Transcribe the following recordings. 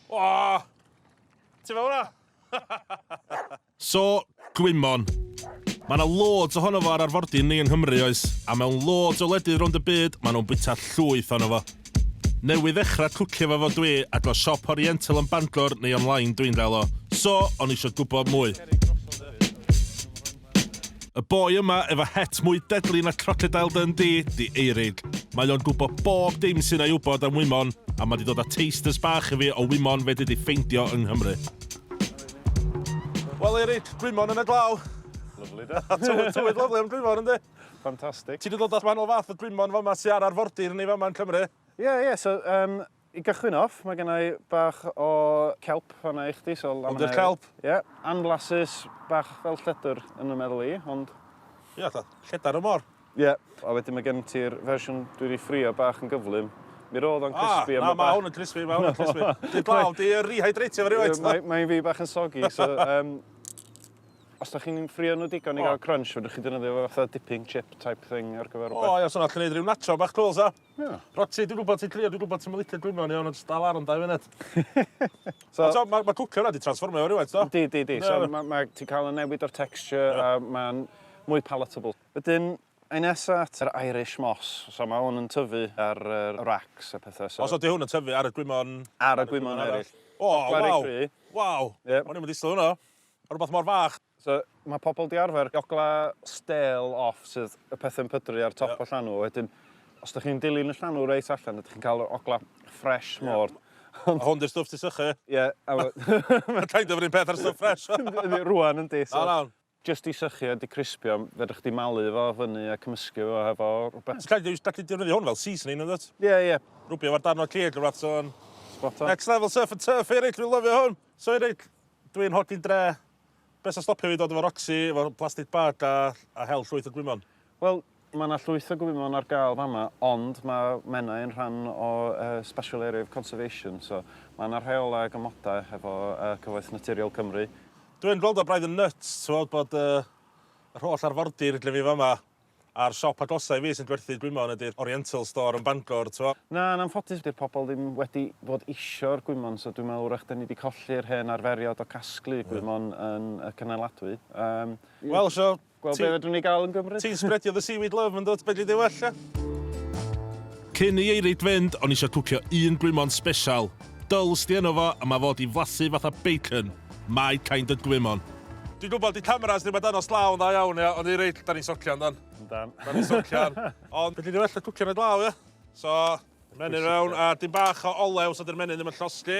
Oh! Ti'n fel hwnna? so, gwymon. Mae yna loads ohono fo ar arfordir ni yng Nghymru, oes? A mewn loads o wledydd rownd y byd, maen nhw'n bwyta llwyth ohono fo. Newydd ddechrau cwcio fo fo dwi, a dros siop Oriental yn Bangor neu online dwi'n gael o. So, o'n eisiau gwybod mwy. Y boi yma efo het mwy deadly na Crocodile Dundee 'di Eirig. Mae o'n gwbo bob dim sy'n a'i wbod am wymon, a ma' 'di dod â tasters bach i fi o wymon fedri di ffeindio yng Nghymru. Wel Eirig, gwymon yn y glaw. Lyfli de? Tywydd tywydd lyfli am gwymon yndi? Ffantastig. Ti 'di dod â manwl fath o gwymon fama sy ar arfordir ni fama yn Cymru? Ie ie so yym I gychwyn off, mae gennau bach o kelp fanna i chdi. So Ond i'r kelp? Ie, yeah, anflasus, bach fel lledr yn y meddwl i, ond... Ie, yeah, lledar y mor. Ie, yeah. a wedyn mae gen ti'r fersiwn dwi wedi ffrio bach yn gyflym. Mi roedd o'n crispy. Ah, na, mae hwn yn crispy, mae hwn yn crispy. Dwi'n blaw, di rehydratio fe rhywbeth. Mae'n mae fi bach yn sogi, so... Um, os da chi'n ffrio nhw digon i gael crunch, fydwch chi dynyddio fe fatha dipping chip type thing ar gyfer rhywbeth. O, ia, so na, chi'n neud rhyw nacho bach cwl, sa? O. Roti, dwi'n gwybod ti'n crio, dwi'n gwybod ti'n licio gwyno yn iawn, ond jyst dal ar am dau funud. so, so, mae ma cwcio yna di transformio o rhywbeth, do? Di, di, di. So, ma, ma, ti'n cael y newid o'r texture yeah. a mae'n mwy palatable. Wedyn, Ein nesa at yr Irish Moss. So mae hwn yn tyfu ar yr racks a pethau. So... Os ydy hwn yn tyfu ar y gwymon... Ar y gwymon eraill. O, waw! Waw! O'n i'n mynd i sylw hwnna. Rhywbeth mor fach. So, mae pobl 'di arfer jogla stêl off sydd y pethau yn pydru ar top y llanw, a wedyn os dych chi'n dilyn y llanw reit allan ydych chi'n cael yr ogla ffresh mor. A hwn 'di'r stwff ti'n sychu ie? Ie. Mae'n kind of yr un peth â'r stwff ffresh. Yndi, rŵan yndi. O iawn. Jyst 'di sychu a 'di crispio, fedrwch chdi malu fo fyny a cymysgu fo hefo rhywbeth. Ti'n gallu gallu defnyddio hwn fel seasoning yndwt? Ie ie. Rwbio fo darn o cig neu rwbath so yn... Spot on. Next level surf and turf fi reit dwi'n lyfio hwn. So i reit dwi'n holi dre Be' sy'n stopio fi dod efo Roxy, efo plastic bag a a hel llwyth o gwymon? Wel, ma' 'na llwyth o gwymon ar gael fama, ond ma' Menai yn rhan o yy Special Area of Conservation, so ma' 'na rheolau ag amodau hefo yy Cyfoeth Naturiol Cymru. Dwi yn gweld o braidd yn nyts t'wod bod yy yr holl arfordir lle fi fama. A'r siop agosaf i fi sy'n gwerthu gwymon ydi'r Oriental Store yn Bangor, t'mo'. Na, yn anffodus 'di'r pobl ddim wedi bod isio'r gwymon, so dwi'n meddwl 'w'rach 'dan ni 'di colli'r hen arferiod o gasglu gwymon yn y cynaladwy. Yym. Wel, so, ti... Gweld be' fedrwn ni ga'l yn Gymru. Ti'n spredio the seaweed love, yndwt? Fedri di well, ia? Cyn i Eirid fynd, o'n i isio cwcio un gwymon sbesial. Dull sti yno fo a mae fo di flasu fatha bacon, my kind of gwymon. Dwi'n gwybod di cameras ddim ar dangos glaw yn dda iawn ia, ond i reit da ni'n socian dan. Yndan. Da ni'n socian. Ond fedri di well y cwcio na glaw ia? So, menyn fewn a dim bach o olew so di'r menyn ddim yn llosgi.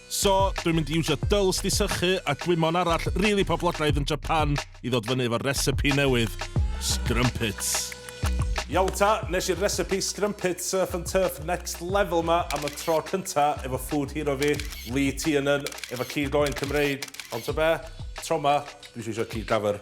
So, dwi'n mynd i iwsio dwls di sychu a gwymon arall rili poblogaidd yn Japan i ddod fyny efo'r recipe newydd, scrumpets. Iawn ta, nes i'r recipe scrumpets surf and turf next level ma am y tro cynta efo food hero fi, Lee Tiernan, efo cig oen Cymreig, ond t'o be? Tro ma, dwi isio isio cig dafyr.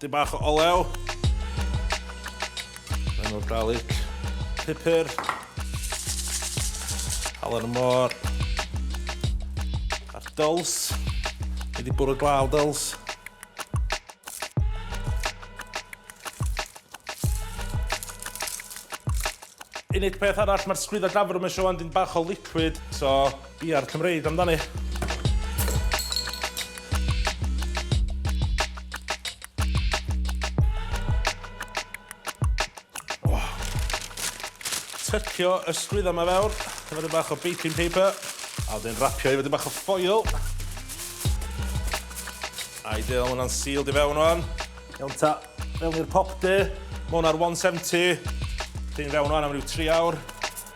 Dyn bach o olew. Rhan o'r garlic. Pupur. Halen y môr. A'r dyls. Ni di bwrw glaw dyls. Unig peth arall, mae'r sgwydda gafr yma eisiau wan dyn bach o liquid, so Bia'r Cymreig amdani. Oh. Tycio y sgwydda yma fewr, efo dyn bach o baking paper, a wedyn rapio efo dyn bach o ffoil. Ideal, mae hwnna'n sealed i fewn o'n. Iawn ta, mewn i'r pop de, mae hwnna'r 170. Dyn fewn o'n am rhyw 3 awr.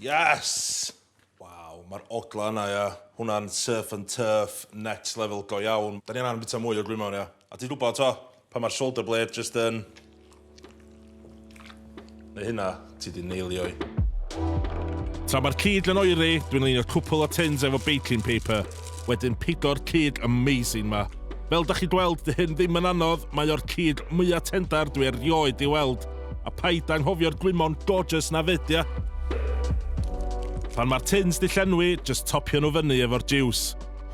Yes! Waw, mae'r ogla yna, ia. Hwnna'n surf and turf, next level go iawn. Da ni angen bita mwy o gwymon, ia. A ti'n gwybod, to, pan mae'r shoulder blade just yn... Neu hynna, ti di neilio'i. Tra mae'r cig yn oeri, dwi'n leinio cwpl o tins efo baking paper. Wedyn pigo'r cig amazing ma. Fel dach chi'n gweld, dy hyn ddim yn anodd, mae o'r cig mwya tendar dwi erioed di weld. A paid anghofio'r gwymon gorgeous na fyd ia? Pan mae'r tins di llenwi, jyst topio nhw fyny efo'r jiws.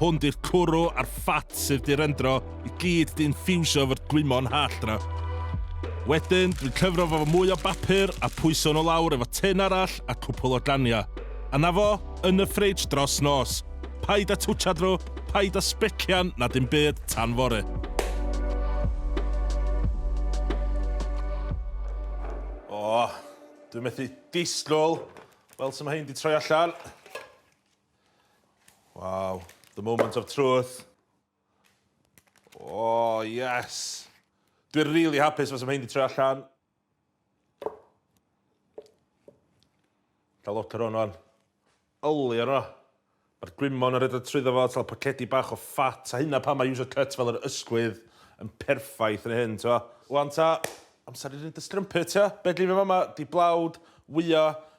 Hwn di'r cwrw a'r ffat sydd di rendro i gyd di infiwsio efo'r gwymon hallt na. Wedyn, dwi'n cyfro fo fo mwy o bapur a pwyso nhw lawr efo tin arall a cwpwl o ganiau. A 'na fo, yn y fridge dros nos. Paid â twtshad nhw, paid â sbecian na dim byd tan fory. O, dwi'n methu disgwyl. Wel, sy'n mae hyn di troi allan. Waw, the moment of truth. O, yes. Dwi'n really hapus fes mae hyn di troi allan. Cael lot o'r hwn o'n yli o'r o. Mae'r gwymon yn rhedeg trwyddo fo, tal pocedi bach o ffat, a hynna pan mae user cut fel yr ysgwydd yn perffaith yn hyn, t'o. Wan ta, amser i roi dy strumpet, t'o. Be' dwi efo fama, di blawd, wyo,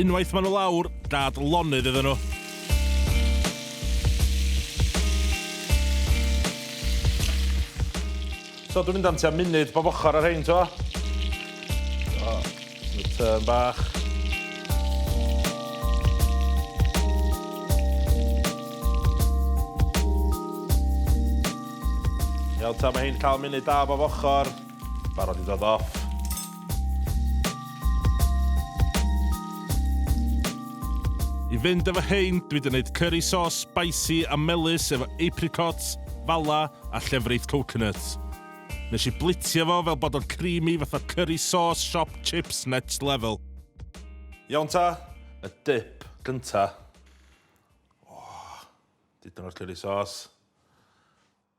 Unwaith maen nhw lawr, gad lonydd iddyn nhw. So dwi'n mynd am tua munud bob ochr ar rhain, to. So, y tyn bach. Iawn ta, mae hyn cael munud da bob ochr. Barod i ddod off. I fynd efo hein, dwi wedi gwneud curry sauce spicy a melus efo apricots, fala a llefrith coconut. Nes i blitio fo fel bod o'n creamy fatha curry sauce shop chips next level. Iawn ta, y dip gynta. Oh, dipyn o'r curry sauce.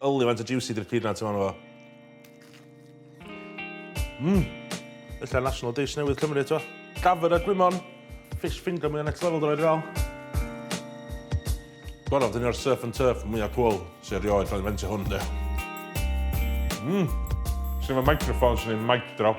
Yli faint o juicy di'r peanuts yma arno fo. Mmm! Ella national dish newydd Cymru eto. Gafr a gwymon. Fish finger mwya next level dylai di fel. Gorau, dyn ni'r surf and turf mwya cwl sy'n erioed cael ei fentio hwn de. Mmm! Swn i'n microphone, swn i'n mic drop.